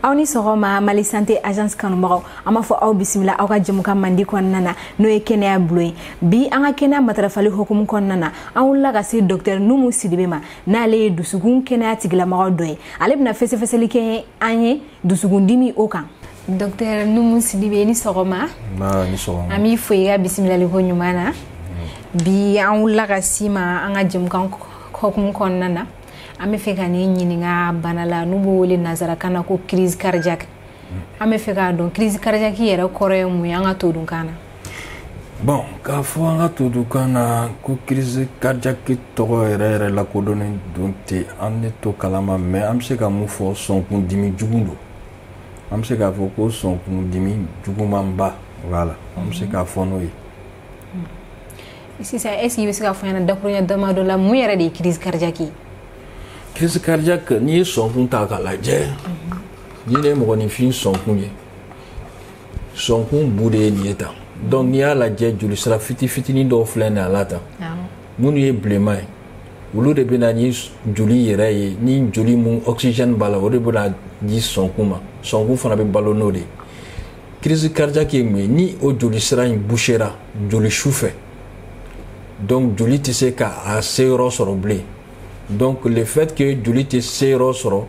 aw ni sɔgɔma mali sante agence kanubagaw an b'a fɔ aw bisimila aw ka jɛmukan mandi kɔnɔna na n'o ye kɛnɛya bulon ye bi an ka kɛnɛya matarafali hokumu kɔnɔna na an wulila ka se dɔktɛr numu sidibe ma n'ale ye dusukun kɛnɛya tigilamɔgɔ dɔ ye ale bɛna fɛsɛfɛsɛli kɛ an ye dusukundimi o kan dɔktɛr numu sidibe ni sɔgɔma an b'i fo i ka bisimilali koɲuman na mm. bi an wulila ka se i ma an ka jɛmukan hokumu kɔnɔna na an bɛ fɛ ka ni ɲininka bana la n'u b'o wele nansarakan na ko crise cardiaque mm. an bɛ fɛ k'a dɔn crise cardiaque yɛrɛ kɔrɔ ye mun ye an ka todunkan na bon k'a fɔ an ka todunkan na ko crise cardiaque tɔgɔ yɛrɛ yɛrɛ lakodɔnnen don ten an ne t'o kalama mais an bɛ se ka mun fɔ sɔnkun dimi jugu don an bɛ se k'a fɔ ko sɔnkun dimi jugumanba voilà an bɛ se k'a fɔ n'o ye sisan est-ce que i bɛ se k'a fɔ an ɲɛna dakuruɲa damadɔ la mun yɛrɛ de ye crise cardiaque ye crise cardiaque n'i ye sɔnkun ta k'a lajɛ ni nin ye mɔgɔninfin sɔnkun ye sɔnkun bu de ye nin ye tan donc n'i y'a lajɛ jolisira fiti fitinin dɔw filɛ nin a la tan minnu ye bilenman ye olu de bɛ na ni joli yɛrɛ ye ni joli mun oxygène b'a la o de bɛ n'a di sɔnkun ma sɔnkun fana bɛ balo n'o de ye crise cardiaque ye mun ye ni o jolisira in bouchera joli su fɛ donc joli tɛ se k'a se yɔrɔ sɔrɔ bilen donc le fait que joli tɛ se yɔrɔ sɔrɔ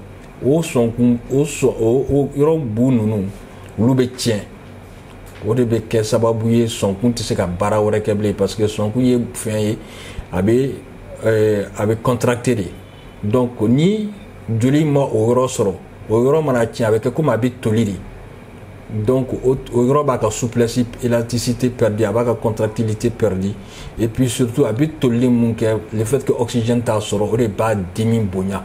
o sɔnkun o sɔn o yɔrɔ bu ninnu olu bɛ tiɲɛ o de bɛ kɛ sababu ye sɔnkun tɛ se ka baara wɛrɛ kɛ bilen parce que sɔnkun ye fɛn ye a bɛ eh, a bɛ contracter de donc ni joli ma o yɔrɔ sɔrɔ o yɔrɔ mana tiɲɛ a bɛ kɛ komi a bɛ toli de donc o yɔrɔ b'a ka souplesse élasticité perdue a b'a ka contractilité perdue et puis surtout a bɛ tolili mun kɛ le fait que oxygène t'a sɔrɔ o de b'a dimi bonya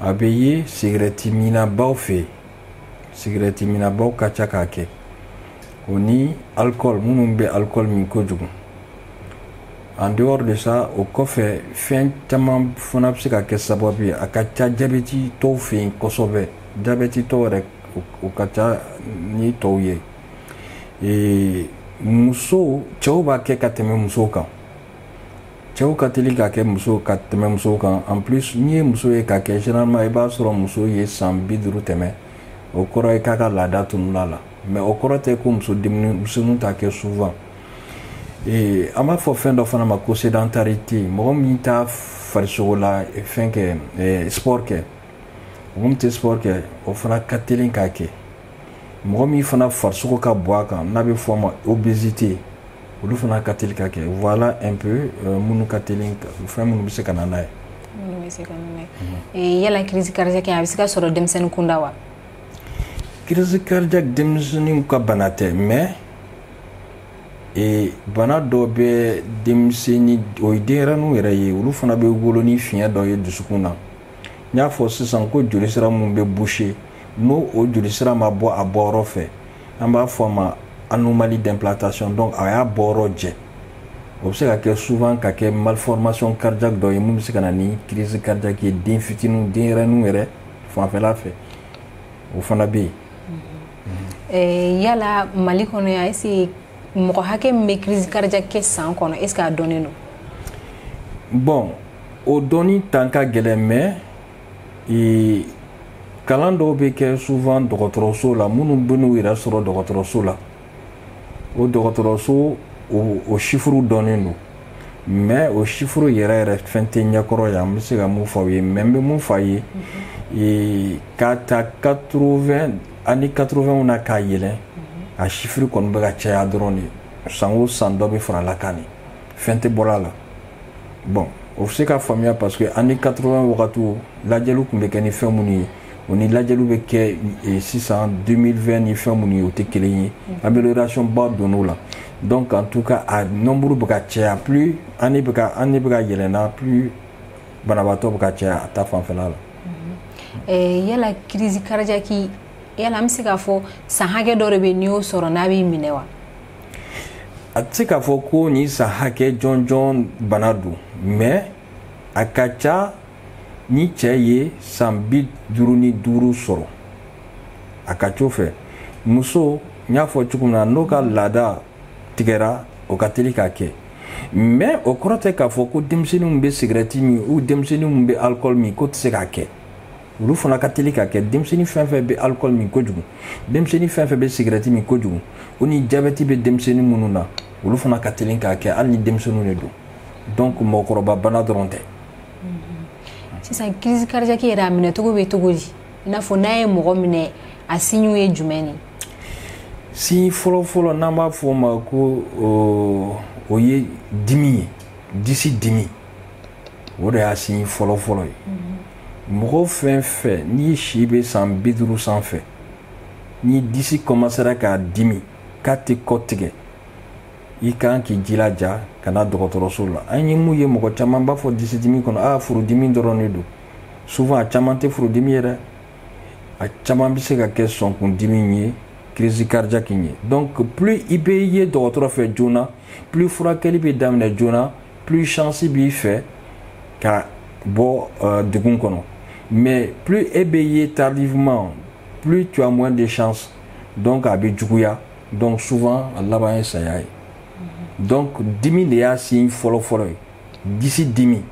a bɛ ye sigɛrɛti minnabaw fɛ yen sigɛrɛti minnabaw ka ca k'a kɛ o ni alcool minnu bɛ alcool min kojugu en dehors de ça o kɔfɛ fɛn caman fana bɛ se ka kɛ sababu ye a ka ca jabɛtitɔw fɛ yen kosɛbɛ jabɛtitɔw yɛrɛ o ka ca ni tɔw ye ee muso cɛw b'a kɛ ka tɛmɛ musow kan cɛw ka teli k'a kɛ muso ka tɛmɛ musow kan en plus n'i ye muso ye k'a kɛ généralement i b'a sɔrɔ muso ye san bi duuru tɛmɛ o kɔrɔ ye k'a ka laada tununa a la mais o kɔrɔ tɛ ko musoninw t'a kɛ souvent ee an b'a fɔ fɛn dɔ fana ma ko sédentarité mɔgɔ min t'a farisogo la fɛn kɛ sport kɛ mɔgɔ min tɛ sport kɛ o fana ka teli k'a kɛ mɔgɔ min fana farisogo ka bon a kan n'a bɛ fɔ a ma obésité olu fana ka teli k'a kɛ voilà un peu euh, minnu ka teli fɛn minnu bɛ se ka na n'a ye minnu bɛ se ka na n'a ye yala crise cardiaque a bɛ se ka sɔrɔ denmisɛnnin kunda wa crise cardiaque denmisɛnninw ka bana tɛ mais e bana dɔ bɛ denmisɛnnin o ye denyɛrɛninw yɛrɛ ye olu fana bɛ wolo ni fiɲɛ dɔ ye dusukun na n y'a fɔ sisan ko jolisira min bɛ boucher n'o o jolisira ma bɔ a bɔyɔrɔ fɛ an b'a fɔ a ma anomalie d'implantation donc a y'a bɔyɔrɔ jɛ o bɛ se ka kɛ souvent ka kɛ malformation cardiaque dɔ ye min bɛ se ka na ni crise cardiaque ye den fitiniw denyɛrɛninw yɛrɛ fanfɛla fɛ o fana bɛ yen. Eh, yala mali kɔnɔ yan est ce que mɔgɔ hakɛ min bɛ crise cardiaque kɛ san kɔnɔ est ce que a dɔnnen don. bon o dɔnni tan ka gɛlɛn mais ee, kalan dɔw bɛ kɛ souvent dɔgɔtɔrɔso la minnu bɛ n'u yɛrɛ sɔrɔ dɔgɔtɔrɔso la o dɔgɔtɔrɔso o, o chiffre dɔnnen don mais o chiffre yɛrɛ yɛrɛ fɛn tɛ n ɲɛkɔrɔ yan n bɛ se ka min fɔ aw ye mais n bɛ min fɔ aw ye ee, k'a ta 80 année 80 na ka yɛlɛn a chiffre kɔni bɛ ka caya dɔrɔn de san o san dɔ bɛ fara a la kan de fɛn tɛ bɔra a la bon o bɛ se ka faamuya parce que année 80 wagati lajɛliw tun bɛ kɛ ni fɛn minnu ye o ni lajɛliw bɛ kɛ e, sisan 2020 ni fɛn minnu ye o tɛ kelen ye mm-hmm. amélioration ba donn'o la donc en tout cas a nombre bɛ ka caya plus année bɛ ka année bɛ ka yɛlɛnna plus banabaatɔ bɛ ka caya a ta fanfɛla la. Mm-hmm. Eh, yala crise cardiaque yala an bɛ se k'a fɔ san hakɛ dɔ de bɛ n'i y'o sɔrɔ n'a b'i minɛ wa. a tɛ se k'a fɔ ko nin san hakɛ jɔnjɔn bana don mais a ka ca ni cɛ ye san bi duuru ni duuru sɔrɔ a ka c'o fɛ muso n y'a fɔ cogo min na n'o ka laada tigɛra o ka teli k'a kɛ mais o kɔrɔ tɛ k'a fɔ ko denmisɛnnin min bɛ sigirɛti min ou denmisɛnnin min bɛ alikɔli min k'o tɛ se k'a kɛ olu fana ka teli k'a kɛ denmisɛnnin fɛn fɛn bɛ alikɔli min kojugu denmisɛnnin fɛn fɛn bɛ sigirɛti min kojugu o ni jabɛti bɛ denmisɛnnin minnu na olu fana ka teli k'a kɛ hali ni denmisɛnninw de don donc mɔgɔkɔrɔba bana dɔrɔn tɛ mm-hmm. sisan crise cardiaque yɛrɛ a minɛcogo bɛ cogo di i n'a fɔ n'a ye mɔgɔ minɛ a signew ye jumɛn ni signe fɔlɔfɔlɔ n'an b'a fɔ o ma ko o ye dimi ye disi dimi o de y'a signe fɔlɔ fɔlɔ ye mɔgɔ fɛn fɛn n'i si bɛ san bi duuru sanfɛ n'i disi kɔmasera k'a dimi k'a tɛ kɔtigɛ i kan k'i jilaja ka na dɔgɔtɔrɔso la an ye mun ye mɔgɔ caman b'a fɔ disi dimi kɔnɔ aa furudimi dɔrɔn de don souvent a caman tɛ furudimi ye dɛ a caman bɛ se ka kɛ sɔnkundimi ye crise cardiaque ye donc plus i bɛ ye dɔgɔtɔrɔ fɛ joona plus furakɛli bɛ daminɛ joona plus chance b'i fɛ ka bɔ uh, degun kɔnɔ mais plus e bɛ ye tardivement plus tu as moins de chance donc a bɛ juguya donc souvent a laban ye saya ye mhm. donc dimi de y'a signe fɔlɔfɔlɔ ye disi dimi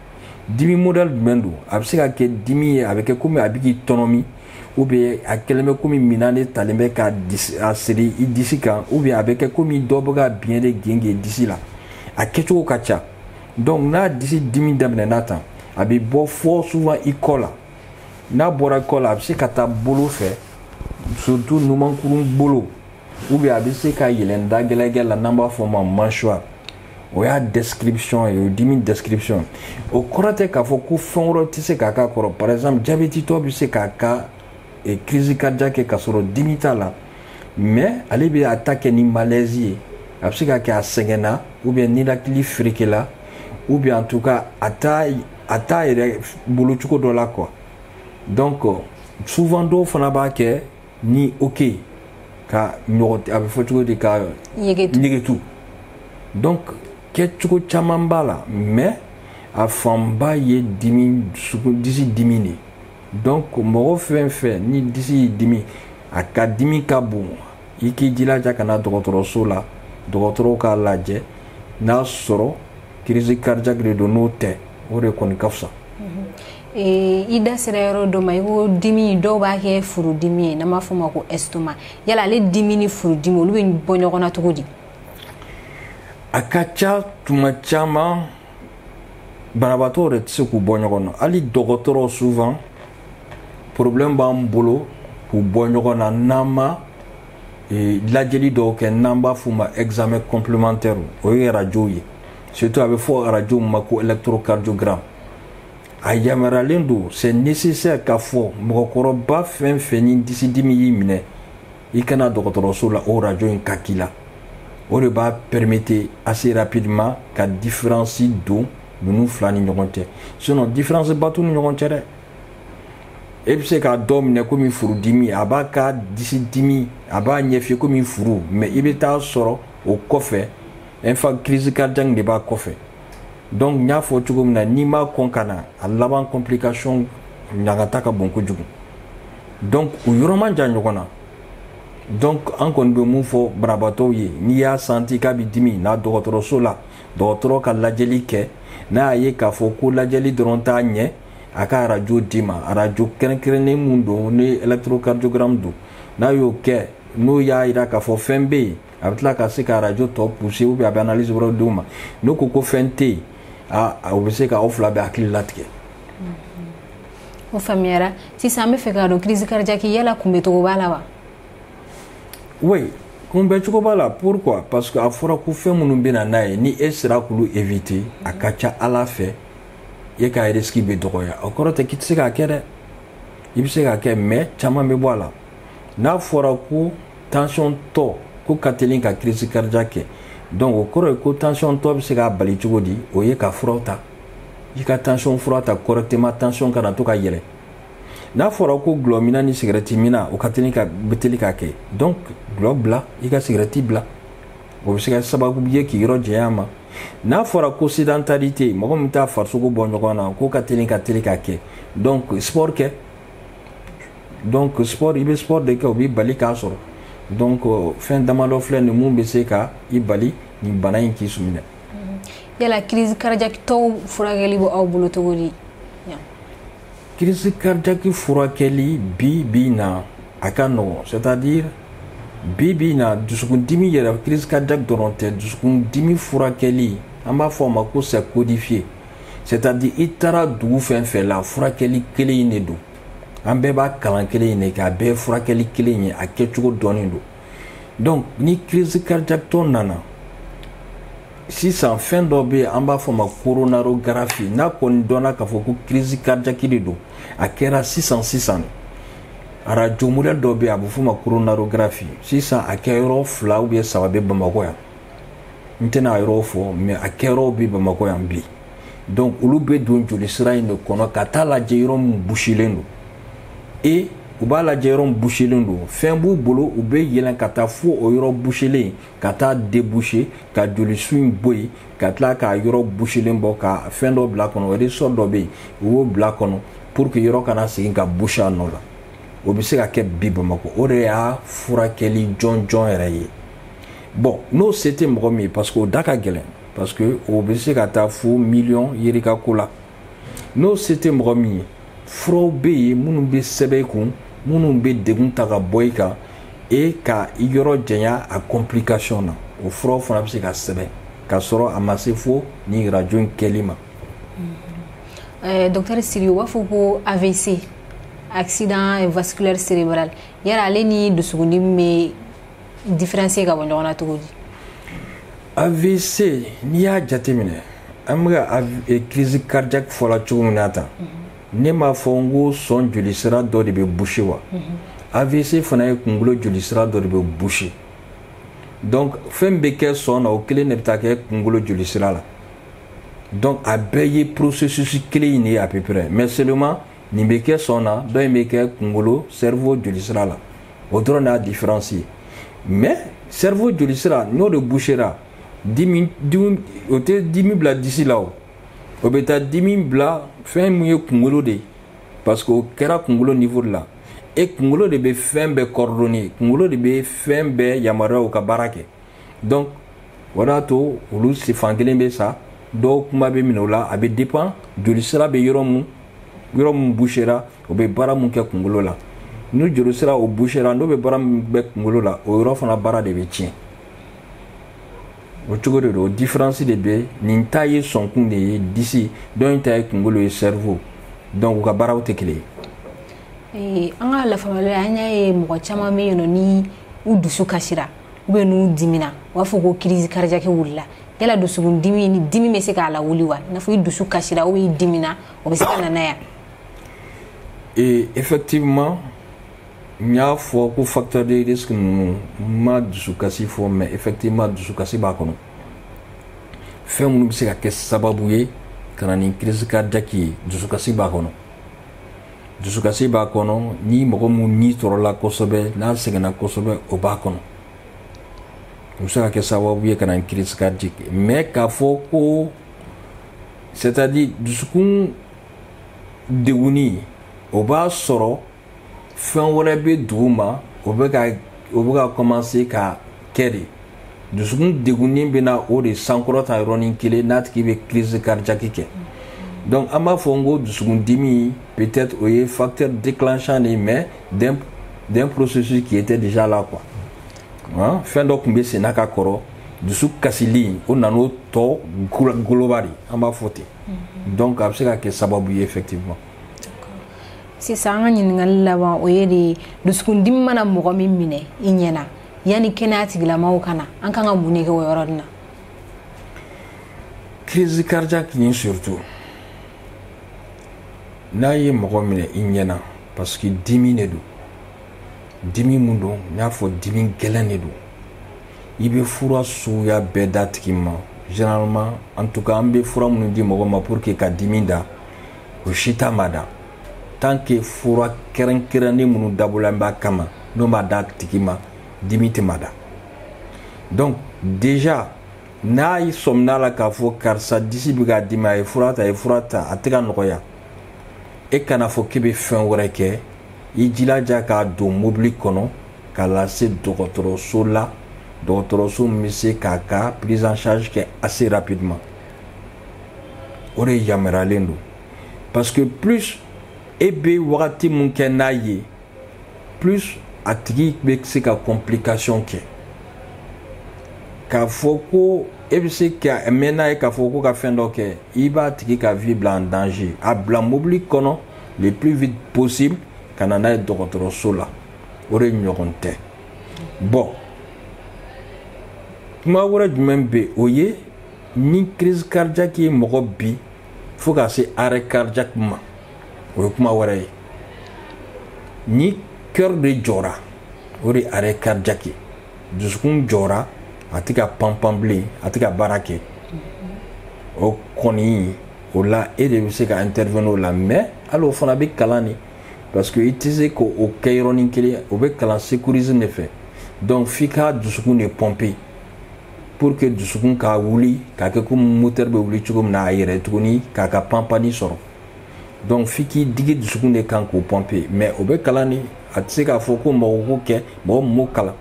dimi modèle jumɛn don a bɛ se ka kɛ dimi ye a bɛ kɛ komi a bɛ k'i tɔnɔmi ou bien a kɛlen bɛ komi minan de talen bɛ k'a siri i disi kan ou bien a bɛ kɛ komi dɔ bɛ ka biɲɛ de gengen i disi la a kɛcogo ka ca donc n'a disi dimi daminɛna tan a bɛ bɔ fɔ souvent i kɔ la n'a bɔra i kɔ la a bɛ se ka taa bolo fɛ surtout numankurun bolo ou bien a bɛ se ka yɛlɛn da gɛlɛgɛ la n'an b'a fɔ o ma mâchoire o y'a description ye o dimi description o kɔrɔ tɛ k'a fɔ ko fɛn wɛrɛ tɛ se k'a k'a kɔrɔ par exemple jabɛtitɔ bɛ se k'a ka eh, crise cardiaque kɛ k'a sɔrɔ dimi t'a la mais ale bɛ a ta kɛ ni malaise ye a bɛ se ka kɛ a sɛgɛnna ou bien ninakili ferekela ou bien en tout cas a t'a a t'a yɛrɛ bolo cogo dɔ la quoi donc souvent dɔw fana b'a kɛ ni hoquet ka ɲɔgɔn a bɛ fɔ cogo di ka yegetu donc kɛcogo caman b'a la mais a fanba ye dimi disi dimi de donc mɔgɔ fɛn fɛn ni disi y'i dimi a ka dimi ka bon i k'i jilaja ka na dɔgɔtɔrɔso la dɔgɔtɔrɔw k'a lajɛ n'a sɔrɔ crise cardiaque de don n'o tɛ o de kɔni ka fisa Ee, i da sera yɔrɔ dɔ ma i ko dimi dɔw b'a kɛ furudimi ye n'an b'a fɔ o ma ko estomac yala ale dimi ni furudimi olu bɛ bɔ ɲɔgɔn na cogo di a ka ca tuma caman banabaatɔ yɛrɛ tɛ se k'u bɔ ɲɔgɔn na hali dɔgɔtɔrɔ souvent problème b'an bolo k'u bɔ ɲɔgɔn na n'an ma e, lajɛli dɔw kɛ n'an b'a f'u ma examen complémentaire o ye arajow ye surtout a bɛ fɔ arajo min ma ko électrocardiogramme a yamaruyalen don c'est nécessaire k'a fɔ mɔgɔkɔrɔba fɛn fɛn ni disidimi y'i minɛ i ka na dɔgɔtɔrɔso la o rajo in ka k'i la o de b'a permettre assez rapidement ka différence don ninnu fila ni ɲɔgɔn cɛ sinon différence ba t'u ni ɲɔgɔn cɛ dɛ e bɛ se k'a dɔ minɛ komi furudimi a b'a ka disidimi a b'a ɲɛf'i ye komi furu mais i bɛ taa sɔrɔ o kɔfɛ infa crise cardiaque de b'a kɔfɛ donc n y'a fɔ cogo min na n'i ma kɔn ka na a laban complication ɲagata ka bon kojugu donc o yɔrɔ man jan ɲɔgɔn na donc an kɔni bɛ mun fɔ banabaatɔw ye n'i y'a santi k'a bɛ dimi na dɔgɔtɔrɔso la dɔgɔtɔrɔ ka lajɛli kɛ n'a y'a ye k'a fɔ ko lajɛli dɔrɔn t'a ɲɛ a ka arajo d'i ma arajo kɛrɛnkɛrɛnnen min don ni électrocardiogramme don n'a y'o kɛ n'o y'a jira k'a fɔ fɛn bɛ yen a bɛ tila ka se ka arajo tɔ pousser ou bien a bɛ analyse wɛrɛw di u ma n'o ko ko fɛn tɛ yen o bɛ se ka aw fila bɛɛ hakili latigɛ o faamuyara sisan an bɛ fɛ k'a dɔn crise cardiaque yala kunbɛcogo b'a la wa oui kunbɛcogo b'a la pourquoi parce que a fɔra ko fɛn minnu bɛ na n'a ye ni e sera k'olu éviter a ka ca ala fɛ e ka risque bɛ dɔgɔya o kɔrɔ tɛ k'i tɛ se k'a kɛ dɛ i bɛ se k'a kɛ mais caman bɛ bɔ a la n'a fɔra ko tension tɔ k'o ka teli ka crise cardiaque kɛ donc o kɔrɔ ye ko tension tɔ bɛ se k'a bali cogo di o ye ka furaw ta i ka tension fura ta correctement tension kana to ka yɛlɛ n'a fɔra ko gulɔminna ni sigɛrɛtiminna o ka teli ka bɛ teli k'a kɛ donc gulɔ bila i ka sigɛrɛti bila o bɛ se ka sababu ye k'i yɔrɔ janya a ma n'a fɔra ko sédentarité mɔgɔ min t'a farisogo bɔ ɲɔgɔn na k'o ka teli ka teli k'a kɛ donc sport kɛ donc sport i bɛ sport de kɛ o b'i bali k'a sɔrɔ donc euh, fɛn damadɔ filɛ nin min bɛ se ka i bali nin bana in k'i minɛ mm-hmm. yala crise cardiaque tɔw furakɛli bɛ aw bolo cogo di crise cardiaque furakɛli bi bi na a ka nɔgɔn c'est à dire bi bi na dusukundimi yɛrɛ crise cardiaque dɔrɔn tɛ dusukundimi furakɛli an b'a fɔ a ma ko c'est codifié c'est à dire i taara dugu fɛn fɛn la furakɛli kelen in de don an bɛɛ b'a kalan kelen in de kɛ a bɛɛ ye furakɛli kelen ye a kɛcogo dɔnnen don donc ni crise cardiaque tɔ nana sisan fɛn dɔ bɛ yen an b'a fɔ ma coronarographie n'a kɔni dɔnna k'a fɔ ko crise cardiaque de don a kɛra sisan sisan de arajo modèle dɔ bɛ yen a bɛ f'o ma coronarographie sisan a kɛ yɔrɔ fila ou bien saba bɛ bamakɔ yan n tɛna a yɔrɔw fɔ mais a kɛyɔrɔw bɛ bamakɔ yan bi donc olu bɛ don jolisira in de kɔnɔ ka taa lajɛ yɔrɔ min busilen don et u b'a lajɛ yɔrɔ min busilen don fɛn b'u bolo u bɛ yɛlɛn ka taa fo o yɔrɔ busilen ka taa déboucher ka jolisu in bɔ yen ka tila k'a yɔrɔ busilen bɔ ka fɛn dɔ bila kɔnɔ ressort dɔ bɛ yen u b'o bila kɔnɔ pour que yɔrɔ kana segin ka busi a nɔ la o bɛ se ka kɛ bi bamakɔ o de y'a furakɛli jɔnjɔn yɛrɛ ye bon n'o se tɛ mɔgɔ min ye parce que o da ka gɛlɛn parce que o bɛ se ka taa fo miliyɔn yirika ko la n'o se tɛ mɔgɔ min ye furaw bɛ yen minnu bɛ sɛbɛn i kun minnu bɛ degun ta ka bɔ i kan et ka i yɔrɔ janya a complication na o furaw fana bɛ se ka sɛbɛn ka sɔrɔ a ma se fo nin rajo in kɛli ma. Eh, docteur Siri u b'a fɔ ko AVC accident vasculaire cérébral yala ale ni dusukundimi bɛ différencier ka bɔ ɲɔgɔn na cogo di AVC n'i y'a jateminɛ an bɛ ka eh, crise cardiaque fɔla cogo min na tan mhm. ne m'a fɔ n ko sɔn jolisira dɔ de bɛ boucher wa mhm. AVC fana ye kunkolo jolisira dɔ de bɛ boucher donc fɛn min bɛ kɛ sɔn na o kelen de bɛ taa kɛ kunkolo jolisira la donc a bɛɛ ye processus kelen in de ye à peu près mais seulement nin bɛ kɛ sɔn na dɔ in bɛ kɛ kunkolo cerveau jolisira la o dɔrɔn y'a différence ye mais cerveau jolisira n'o de bouchera dimi dimi o tɛ dimi bila disi la o o bɛ taa dimi bila fɛn min ye kunkolo de ye parce que o kɛra kunkolo niveau de la et kunkolo de bɛ fɛn bɛɛ coordonner kunkolo de bɛ fɛn bɛɛ yamaruya u ka baara kɛ donc o de y'a to olu fan kelen bɛ sa dɔw kuma bɛ minɛ o la a bɛ dépend jolisira bɛ yɔrɔ mun yɔrɔ mun bouchera o bɛ baara mun kɛ kunkolo la ni jolisira o bouchera n'o bɛ baara min kɛ kunkolo la o yɔrɔ fana baara de bɛ tiɲɛ o cogo de don o différence de bɛ nin ta ye sɔnkun de ye disi dɔ in ta ye kunkolo ye cerveau donc u ka baaraw tɛ kelen ye. an ka lafamuyali an y'a ye mɔgɔ caman bɛ yen nɔ ni u dusu kasira ou bien n'u dimina u b'a fɔ ko crise cardiaque wulila yala dusukun dimi ni dimi bɛ se k'a lawuli wa i n'a fɔ i dusu kasira ou bien i dimina o bɛ se ka na n'a ye ee effectivement n y'a fɔ ko facteur de risque ninnu n ma dusukasi fɔ mais effectivement dusukasi b'a kɔnɔ fɛn minnu bɛ se ka kɛ sababu ye ka na ni crise cardiaque ye dusukasi b'a kɔnɔ dusukasi b'a kɔnɔ ni mɔgɔ min ni tɔɔrɔla kosɛbɛ n'a sɛgɛnna kosɛbɛ o b'a kɔnɔ o bɛ se ka kɛ sababu ye ka na ni crise cardiaque mais k'a fɔ ko c'est-à-dire dusukun degunni o b'a sɔrɔ fɛn wɛrɛ bɛ duguma o bɛ ka o bɛ ka commencer ka kɛ de dusukun degunni bɛ na o de sankɔrɔta yɔrɔnin kelen na a tigi bɛ crise cardiaque kɛ donc an b'a fɔ n ko dusukun dimi peut-être o ye facteur déclenchant de ye mais d'un d'un processus qui était déjà là quoi hein? fɛn dɔ tun bɛ senna ka kɔrɔ dusu kasili o nan'o tɔ goloba de an b'a fɔ ten donc a bɛ se ka kɛ sababu ye effectivement sisan an ka ɲininkali laban o ye de dusukundimi mana mɔgɔ min minɛ i ɲɛ na yanni kɛnɛya tigilamaw ka na an ka kan ka mun de kɛ o yɔrɔ na crise cardiaque nin surtout n'a ye mɔgɔ minɛ i ɲɛ na parce que dimi de don dimi min don n y'a fɔ dimi gɛlɛn de don i bɛ fura suguya bɛɛ d'a tigi ma généralement en tout cas an bɛ fura minnu di mɔgɔ ma pour que ka dimi da o si t'a mada tant que fura kɛrɛnkɛrɛnnen minnu dabɔlen b'a kama n'o ma d'a tigi ma dimi tɛ mada donc déjà n'a y'i sɔmin'a la k'a fɔ karisa disi bɛ k'a dimi a ye fura ta a ye fura ta a tɛ ka nɔgɔya e kan'a fɔ k'i bɛ fɛn wɛrɛ kɛ i jilaja k'a don mobili kɔnɔ k'a lase dɔgɔtɔrɔso la dɔgɔtɔrɔso min bɛ se k'a ka prise en charge kɛ assez rapidement o de yamaruyalen don parce que plus e bɛ wagati min kɛ n'a ye plus a tigi bɛ se ka complication kɛ k'a fɔ ko e bɛ se ka mɛn n'a ye k'a fɔ ko ka fɛn dɔ kɛ i b'a tigi ka vie bila en danger a bila mobili kɔnɔ le plus vite possible ka na n'a ye dɔgɔtɔrɔso la o de ɲɔgɔn tɛ bon kuma wɛrɛ jumɛn bɛ yen o ye ni crise cardiaque ye mɔgɔ bin fo ka se arrêt cardiaque ma o ye kuma wɛrɛ ye ni cœur de jɔra o de arrêt cardiaque ye dusukun jɔra a tɛ ka panpan bilen a tɛ ka baara kɛ o kɔni o la e de bɛ se ka intervenir o la mais hali o fana bɛ kalan de parce que i tɛ se k'o kɛ yɔrɔnin kelen o bɛ kalan secourisme de fɛ donc f'i ka dusukun de pomper pour que dusukun ka wuli k'a kɛ komi moteur bɛ wuli cogo min na a yɛrɛ tuguni k'a ka panpanni sɔrɔ donc f'i k'i digi dusukun de kan k'o pomper mais o bɛ kalan de a tɛ se k'a fɔ ko mɔgɔ k'o kɛ mɔgɔ min m'o kalan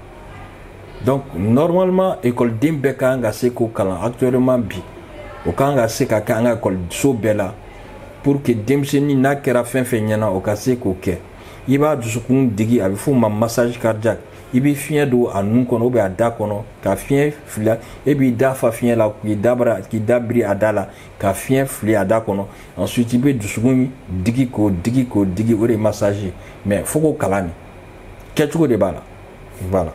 donc normalement ekɔliden bɛɛ ka kan ka se k'o kalan actuellement bi o ka kan ka se ka kɛ an ka ekɔliso bɛɛ la pour que denmisɛnnin n'a kɛra fɛn fɛn ɲɛna o ka se k'o kɛ i b'a dusukun digi a bɛ f'o ma massage cardiaque i bɛ fiɲɛ don a nun kɔnɔ ou bien a da kɔnɔ ka fiɲɛ fili e b'i da fa fiɲɛ la k'i da bara k'i da biri a da la ka fiɲɛ fili a da kɔnɔ ensuite i bɛ dusukun digi k'o digi k'o digi o de ye massage ye mais fo k'o kalan de kɛcogo de b'a la voilà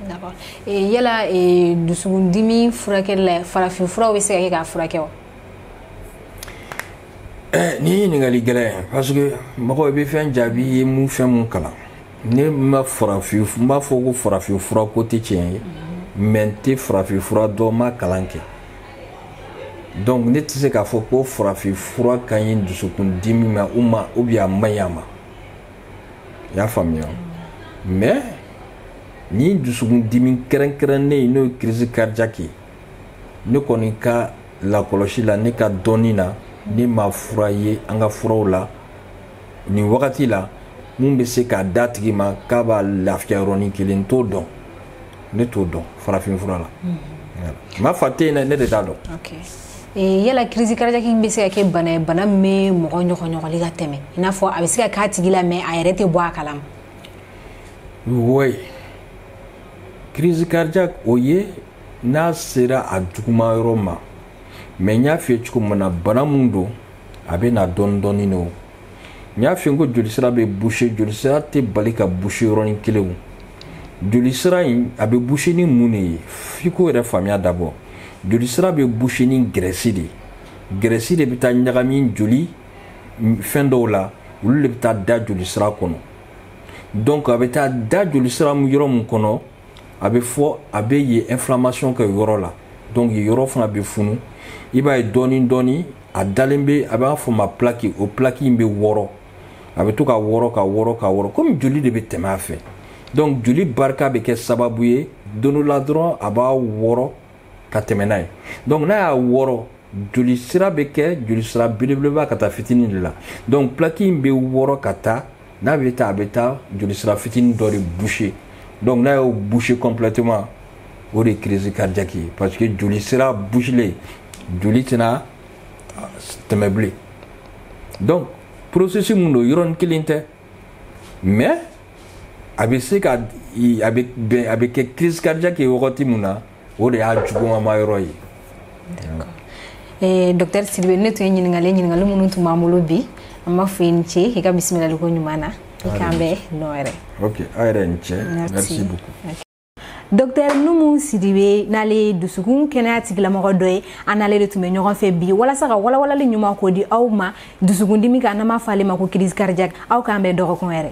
d'accord eh, yala eh, dusukundimi furakɛli la farafin furaw bɛ se ka kɛ k'a furakɛ wa eh, nin ye ɲininkali gɛlɛn ye parce que mɔgɔ i bɛ fɛn jaabi i ye mun fɛn mun kalan ne ma farafin n b'a fɔ ko farafin fura ko tɛ tiɲɛ ye mais n tɛ farafin fura dɔn n m'a kalan kɛ donc ne tɛ se k'a fɔ ko farafin fura ka ɲi dusukundimi ma ou bien a man ɲi a ma i y'a faamuya mais ni dusukun dimi kɛrɛnkɛrɛnnen ye n'o ye crise cardiaque ye ne kɔni ka lakɔlɔsi la ne ka dɔnni na ne ma fura ye an ka furaw la nin wagati la mun bɛ se k'a d'a tigi ma k'a b'a lafiya yɔrɔnin kelen n t'o dɔn ne t'o dɔn farafinfura la n m'a fɔ a tɛ yen dɛ ne de t'a dɔn Eh, yala crise cardiaque bɛ se ka kɛ bana ye bana min bɛ mɔgɔ ɲɔgɔnɲɔgɔnli ka tɛmɛ i n'a fɔ a bɛ se ka k'a tigi la mais a yɛrɛ tɛ bɔ a kalama oui crise cardiaque o ye n'a sera a juguma yɔrɔ ma mais n y'a f'i ye cogo min na bana min don a bɛ na dɔɔni dɔɔni de o n y'a f'i ye ko jolisira bɛ boucher jolisira tɛ bali ka boucher yɔrɔnin kelen o jolisira in a bɛ boucher ni mun de ye f'i k'o yɛrɛ faamuya d'abord jolisira bɛ boucher ni graisse de ye graisse de bɛ taa ɲagami joli fɛn dɔw la olu de bɛ taa da jolisira kɔnɔ donc a bɛ taa da jolisira yɔrɔ min kɔnɔ a bɛ fɔ a bɛ yen inflammation kɛ yɔrɔ la donc yen yɔrɔ fana bɛ funu i b'a ye dɔɔni dɔɔni a dalen bɛ a b'a fɔ ma plaque o plaque in bɛ wɔrɔ a bɛ to ka wɔrɔ ka wɔrɔ ka wɔrɔ comme joli de bɛ tɛmɛ a fɛ donc joli barika bɛ kɛ sababu ye don dɔ la dɔrɔn a b'a wɔrɔ ka tɛmɛ n'a ye donc n'a y'a wɔrɔ joli sira bɛ kɛ joli sira belebeleba ka taa fitinin de la donc plaque in bɛ wɔrɔ ka taa n'a bɛ taa a bɛ taa joli sira fitinin dɔ de boucher donc n'a y'o boucher complètement o de ye crise cardiaque ye parce que joli sira bouchelen joli tɛna tɛmɛ bilen donc processus mun don yɔrɔnin kelen tɛ mais a bɛ se ka a bɛ bɛn a bɛ kɛ crise cardiaque ye wagati mun na o de y'a jugumama yɔrɔ ye. d'accord eh, docteur Sidibe ne tun ye ɲininkali ɲininkali minnu tun b'an bolo bi an b'a fɔ i ni ce i ka bisimilaliko ɲuman na i k'an bɛn don wɛrɛ. ok aw yɛrɛ ni ce merci beaucoup. Docteur Numu Sidibe n'ale ye dusukun kɛnɛya tigilamɔgɔ dɔ ye an n'ale de tun bɛ ɲɔgɔn fɛ bi walasa ka walawalali ɲuman ko di aw ma dusukundimi kan n'an b'a fɔ ale ma ko crise cardiaque aw k'an bɛn dɔgɔkun wɛrɛ